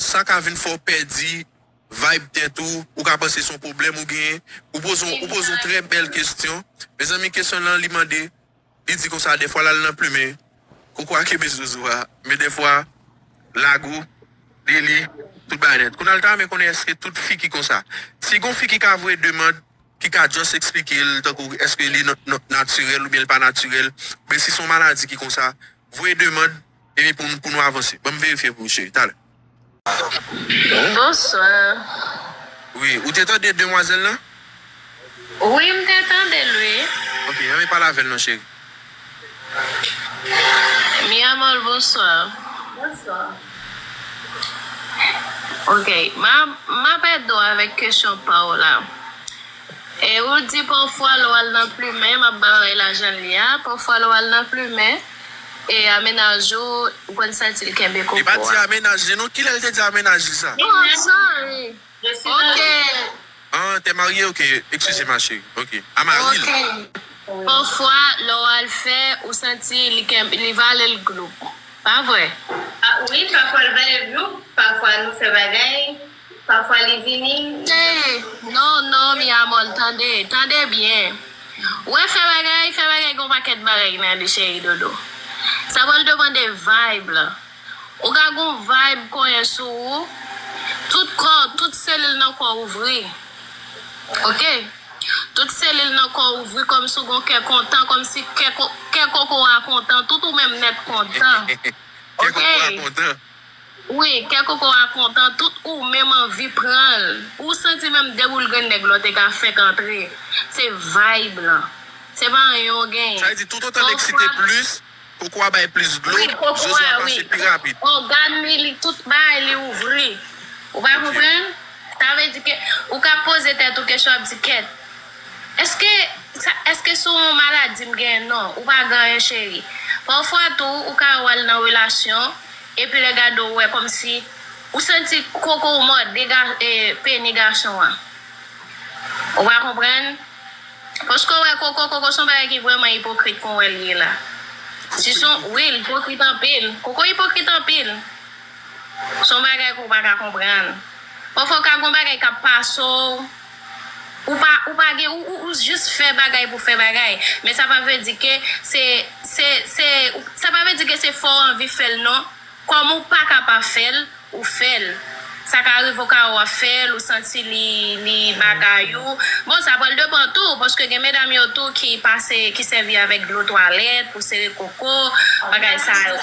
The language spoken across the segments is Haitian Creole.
Sa ka vin fè w pèdi vayb tèt ou, ou ka panse se yon pwoblèm ou genyen. Ou poze ou poze yon trè bèl kesyon. Mezanmi kesyon lan li mande, li di konsa dèfwa l al nan plumen koko a kenbe zozo a, men dèfwa lago, deli, tout bagay nèt. Kounye a l ta renmen konnen èske tout fi ki konsa. Si gon fi ki ka voye demand, ki ka just eksplike l tankou èske li natirèl oubyen li pa natirèl, oubyen si se yon maladi ki konsa, voye demand. Epi pou pou nou avanse. Banm verifye pou ou cheri talè. Bonsoir. Wi, ou te tande demwazel lan? Wi m te tande l wi. Ok anvi pale avel non cheri. Mi amor bonsoir. Bonsoir. Ok map ede w avek kesyon pa w la. E ou di pafwa le w al nan plumen map ba w lajan li a pafwa le w al nan plumen. E a mennaj ou ou konn santi l kenbe koko a. Li pa di a mennaj li non kilè l te di a mennaj li sa. Nou ansanm ok. An te marye ok ekskize ma cheri ok a mari l. Ok pafwa lè w al fè ou santi li kenbe li vale l gloup pa vre. Wi pafwa l vale l gloup pafwa nou fè bagay. Pafwa li vini Tee, non, non, mi amor Tande, tande byen Wè fè bagay, fè bagay Gon pakèt bagay ki nan li cheri dodo Sa pral depande vayb la Ou ka gon vayb konyen sou ou Tout kò, tout selil nan kò ouvri Ok Tout selil nan kò ouvri Kòmsi ou gon kè kontan Kòmsi kè koko a kontan Tout ou menm nèt kontan Ok Kè koko a kontan. Wi kè koko a kontan tout ou menm anvi pranl ou santi menm de boul grenn nèg lò te ka fèk antre se vibe lan se pa anyen ou genyen Sa vle di tout otan nèg site plis, koko a bay plis dlo, wi koko zozo a a wi pase pi rapid. ògàn li li tout bagay li ouvri ou pa konprann sa vle di ke ou ka poze tèt ou kesyon ap di kèt èske sa èske se yon maladi m genyen non ou pa gen anyen cheri pafwa tou ou ka wè wal nan relasyon Epi lè gade w wè kòmsi ou santi koko w mòde peni gason an. Ou pa konprann? Paske w wè koko, koko son bagay ki vrèman ipokrit kon wè l ye la. Si son, wi l ipokrit anpil. Koko ipokrit anpil. Son bagay ke w pa ka konprann. Pafwa ka gon bagay k ap pase w. Ou pa ou pa gen ou ou jis fè bagay pou fè bagay men sa pa vle di ke se se se sa pa vle di ke se fòw anvi fèl non kòm ou paka pa fèl ou fèl sa ka rive ou ka wè wap fèl ou santi li li bagay ou bon sa pral depan tou paske gen medam yo tou ki pase ki sèvi avèk dlo twalèt pou sere koko bagay sa yo.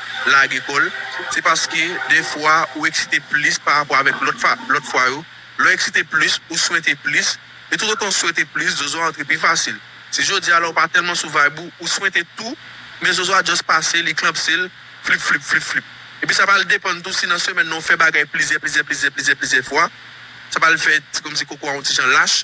lage kò l, se paske dèfwa ou eksite plis pa rapò avèk lòt fa, lòt fwa yo. Lè w eksite plis, ou swente plis. E toutotan w swete plis, zozo a antre pi fasil. Si jodi a la ou pa tèlman sou vayb ou, ou swente tou, men zozo a just pase, li klanpse l, flip flip, flip flip. Epi sa pral depann tou si nan semèn nan ou fè bagay plizyè, plizyè, plizyè, plizyè, plizyè fwa, sa pral fè ti kòmsi koko a yon ti jan lach.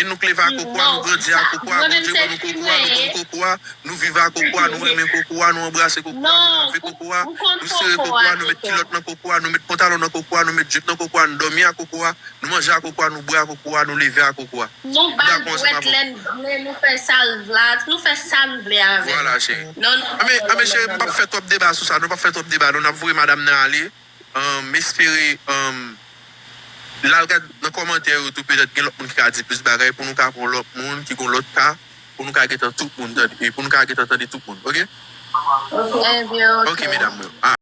E nou kleve ak koko a, nou grandi ak koko a, Bondye ban nou koko a, nou konn koko a, nou viv ak koko a, nou renmen koko a, nou anbrase koko a, nou lave koko a, nou sere koko a, nou met kilòt nan koko a, nou met pantalon nan koko a, nou met jip nan koko a, nou dòmi ak koko a, nou manje ak koko a, nou bwè ak koko a, nou leve ak koko a. Nou ba l bwèt lè n vle, nou fè sa l vle, nou fè sa n vle avè l. Vwala cheri. Anben, anben cheri, m pap fè twòp deba sou sa non, m pap fè twòp deba non, n ap voye madam nan ale. M espere l al gad nan kòmantè yo tou petèt gen lòt moun ki ka di plis bagay pou nou ka pran lòt moun ki gon lòt ka pou nou ka gentan tout moun tande pou nou ka gentan tande tout moun ok ok medam m yo.